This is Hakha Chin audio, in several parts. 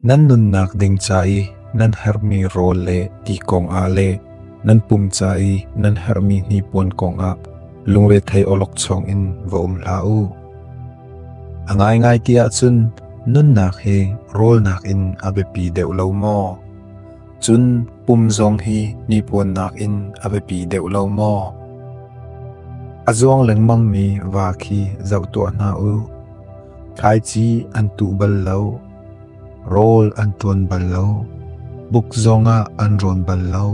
Nan nunnak ding ca i nan herhmi rawl le ti kongah le nan pum ca i nan herhmi hnipuan kongah lungrethei awlokchong in va um hlah u. A ngaingai ti ahcun nunnak hi rawlnak in a biapi deuh lo maw? Cun pum zong hi hnipuannak in a biapi deuh lo maw? A zuang lengmangmi va khi zoh tuah hna u. Thlaici an tuh bal lo, rawl an tuan bal lo, buk zongah an rawn bal lo.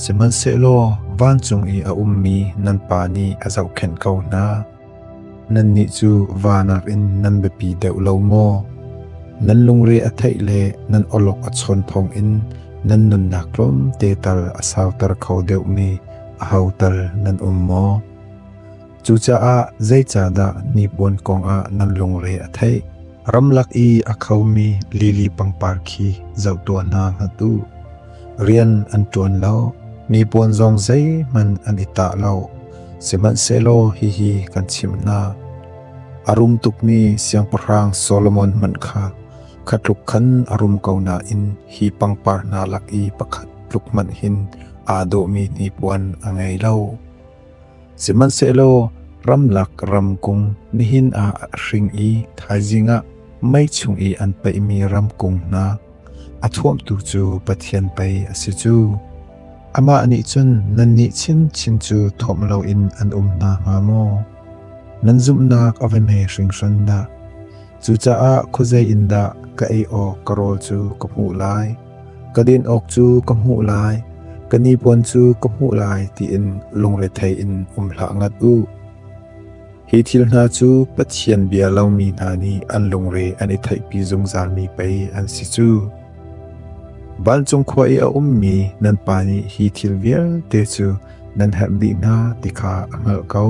Sihmanhsehlaw vancung i a ummi nan pa nih a zohkhenh ko hna. Nannih cu va nakin nan biapi deuh lo maw? Nan lungre a theih le nan awlok a chawn thawngin nan nunnak tlawmte tal a sauter kho deuhmi ahotal nan um maw? Cucaah zeicahdah hnipuan kongah nan lungre a theih? Ramlak i a khomi lili pangpar khi zoh tuah hna hlat u. rian an ṭuan lo. Mi puan zong zeihmanh an i tah lo, sihmanhsehlaw hihi kan chimh hna: A rum tukmi Siangpahrang Solomon hmanh kha kha tluk khan a rum ko nain hi pangpar hna lak i pakhat tluk hmanh hin aa dawhmi hnipuan a ngei lo. Sihmanhsehlaw ramlak ramkung nihin ah a hring i thaizing ah mei chung i an peihmi ramkung hna, A thuamtu cu Pathian pei a si cu. Amah nih cun nannih chinchin cu thuamh loin an um hna hnga maw? Nan zumhnak a va hme hringhran dah! Cucaah khuazei in dah ka ei awk ka rawl cu ka hmuh lai? Ka din awk cu ka hmuh lai, ka nipuan cu ka hmuh lai tiin lungrethei in um hlah ngat u. Hi thil hna cu Pathian bia lomi hna nih an lungre an i theihpi zungzalmi pei an si cu. Vancung khua i a ummi nan pa nih hi thil vialte cu nan herh dih hna ti kha a hngalh ko.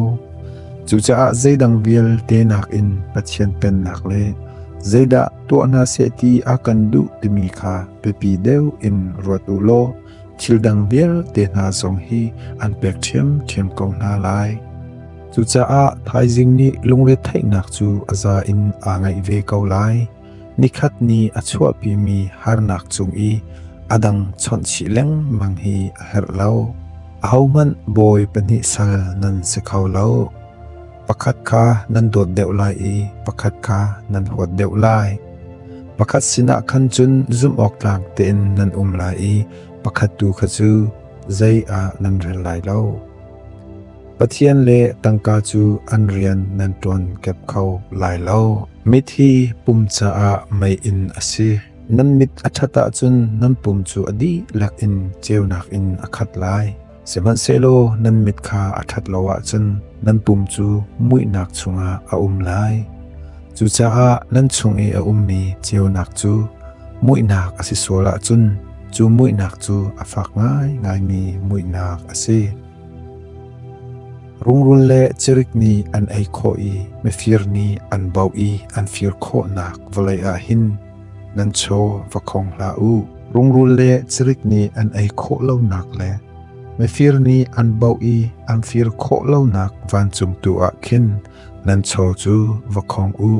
Cucaah zeidang vialte nakin Pathian pennak le zeidah tuah hna seh ti a kan duh timi kha biapi deuh in ruat u law thildang vialte hna zong hi an pek ṭhiamṭhiam ko hna lai. Cucaah thaizing nih lungretheihnak cu a za in aa ngaih ve ko lai. Nikhat ni a chuahpimi harnak cung i a dang chawnhchih lengmang hi a herh lo. Ahohmanh bawi pahnih sal nan si kho lo. pakhat kha nan dawt deuh lai i pakhat kha nan huat deuh lai. Pakhat sinah khan cun zumhawktlak tein nan um lai i pakhat tu kha cu zei ah nan rel lai lo. Pathian le tangka cu an rian nan ṭuan kep kho lai lo. Mit hi pum caah mei in a si. Nan mit a ṭhat ahcun nan pum cu a dihlak in ceunak in a khat lai. Sihmanhsehlaw nan mit kha a ṭhat lo ahcun nan pum cu muihnak chungah a um lai. Cucaah nan chung i a ummi ceunak cu muihnak a si sual ahcun cu muihnak cu a fak ngaingaimi muihnak a si. Rungrul le cirik nih an ei khawh i mifir nih an bauh i an fir khawhnak vawlei ah hin Nan chaw va khong hlah u. Rungrul le cirik nih an ei khawh lonak le mifir nih an bauh i an fir khawh lonak vancungtu ah khin nan chaw cu va khong u.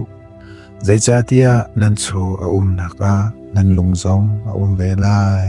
Zeicahtiah nan chaw a umnak ah nan lung zong a um ve lai.